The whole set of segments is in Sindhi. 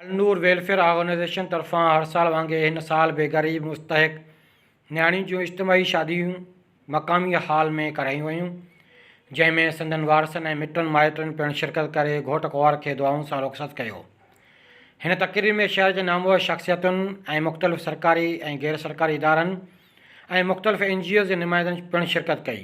النور ويلفيئر آرگنائيزيشن طرفان هر سال وانگي هن سال به غريب مستحق نياڻين جون اجتماعي شاديون مقامي هال ۾ ڪرايون ويون جنهن ۾ سندن وارثن ۽ مٽن مائٽن پڻ شرڪت ڪري گهوٽ ڪنوار کي دعائن سان رخصت ڪيو هن تقريب ۾ شهر جي نامور شخصيتن ۽ مختلف سرڪاري ۽ غير سرڪاري ادارن ۽ مختلف اين جي اوز جي نمائندن پڻ شرڪت ڪئي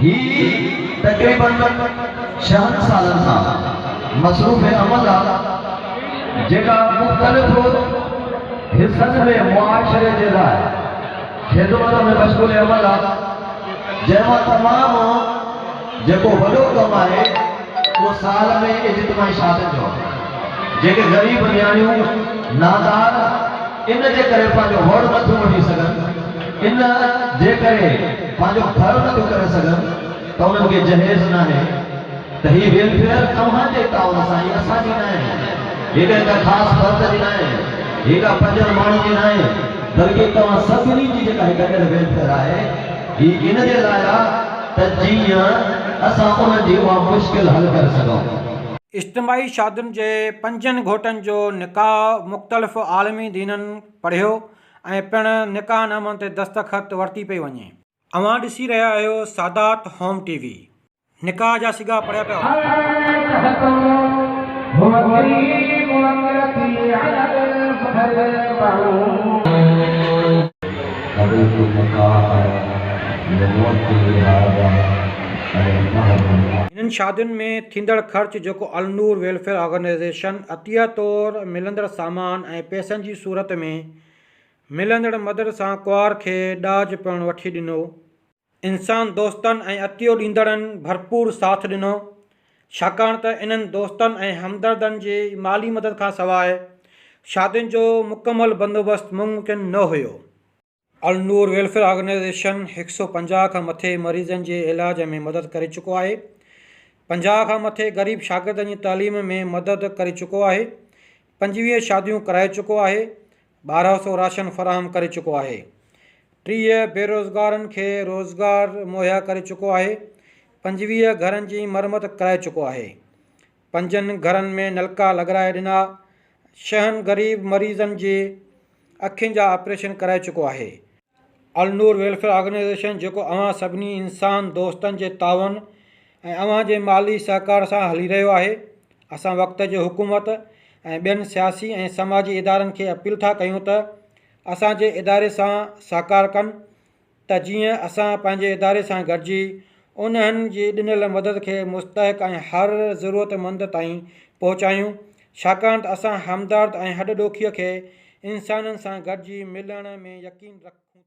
هي تقريباً ڇهن سالن کان مصروف عمل آ جيڪا مختلف حصن ۾ معاشري جي لاء خدمت ۾ مشغول عمل آ جنهن مان تمام جيڪو وڏو ڪم آهي اهو سال ۾ اجتماعي شادين جو آ جيڪي غريب نياڻيون نادار ان جي ڪري پنهنجو وڙ نٿيون وٺي سگهن ان جي ڪري پنهنجو گهر نه به ڪري سگهن ته انهن کي جهيز ناهي ته هي ويلفيئر اوهان جي تعاون سان هي اسان جي ناهي هي ڪنهن ڪا خاص فرد جي ناهي هي ڪا پنجن ماڻهن جي ناهي بلڪه توهان سڀني جي جيڪا هي گڏيل ويلفيئر آهي هي ان جي لاء آ ته جيئن اسان انهن جي اها مشڪل حل ڪري سگهون. اجتماعي شادين جي پنجن گهوٽن جو نڪاح مختلف عالمي دينن پڙهيو. ۽ پڻ نڪاح نامن تي دستخط ورتي پئي وڃي. اوهان ڏسي رهيا آهيو سادات هوم ٽي وي. نڪاح جا سڳا پڙهيا پيا وڃن. هنن شادين ۾ ٿيندڙ خرچ جيڪو النور ويلفيئر آرگنائيزيشن عطيه طور ملندڙ سامان ۽ پئسن جي صورت ۾ ملندڙ مدد سان ڪوار کي ڏاج پڻ وٺي ڏنو. انسان دوستن ۽ عطيو ڏيندڙن ڀرپور ساٿ ڏنو، ڇاڪاڻ ته انهن دوستن ۽ همدردن جي مالي مدد کان سواء شادين جو مڪمل بندوبست ممڪن نه هيو. النور ويلفيئر آرگنائيزيشن هڪ سؤ پنجاهه کان مٿي مريضن جي علاج ۾ مدد ڪري چڪو آهي. پنجاهه کان مٿي غريب شاگردن جي تعليم ۾ مدد ڪري چڪو آهي. پنجويهه شاديون ڪرائي چڪو آهي. ٻارهن سؤ راشن فراهم ڪري چڪو آهي. ٽيهه بيروزگارن کي روزگار مهيا ڪري چڪو آهي. پنجويهه گهرن جي مرمت ڪرائي چڪو آهي. پنجن گهرن ۾ نلڪا لڳرائي ڏنا. شهن غريب مريضن جي. اکين جا آپريشن ڪرائي چڪو آهي. النور ويلفيئر آرگنائيزيشن جيڪو اوهان سڀني انسان دوستن جي تعاون ۽ اوهان جي مالي سهڪار سان هلي رهيو آهي، اسان وقت جي حڪومت ۽ ٻين سياسي ۽ سماجي ادارن کي اپيل ٿا ڪيون ته اسان جي اداري سان سهڪار ڪن ۽ ته جيئن اسان پنهنجي اداري سان گڏجي انهن جي ڏنل مدد کي مستحق ۽ هر ضرورت مند تائين پهچايون ڇاڪاڻ ته اسان همدرد ۽ هڏ ڏوکيء کي انسانن سان گڏجي ملڻ ۾ يقين رکون ٿا.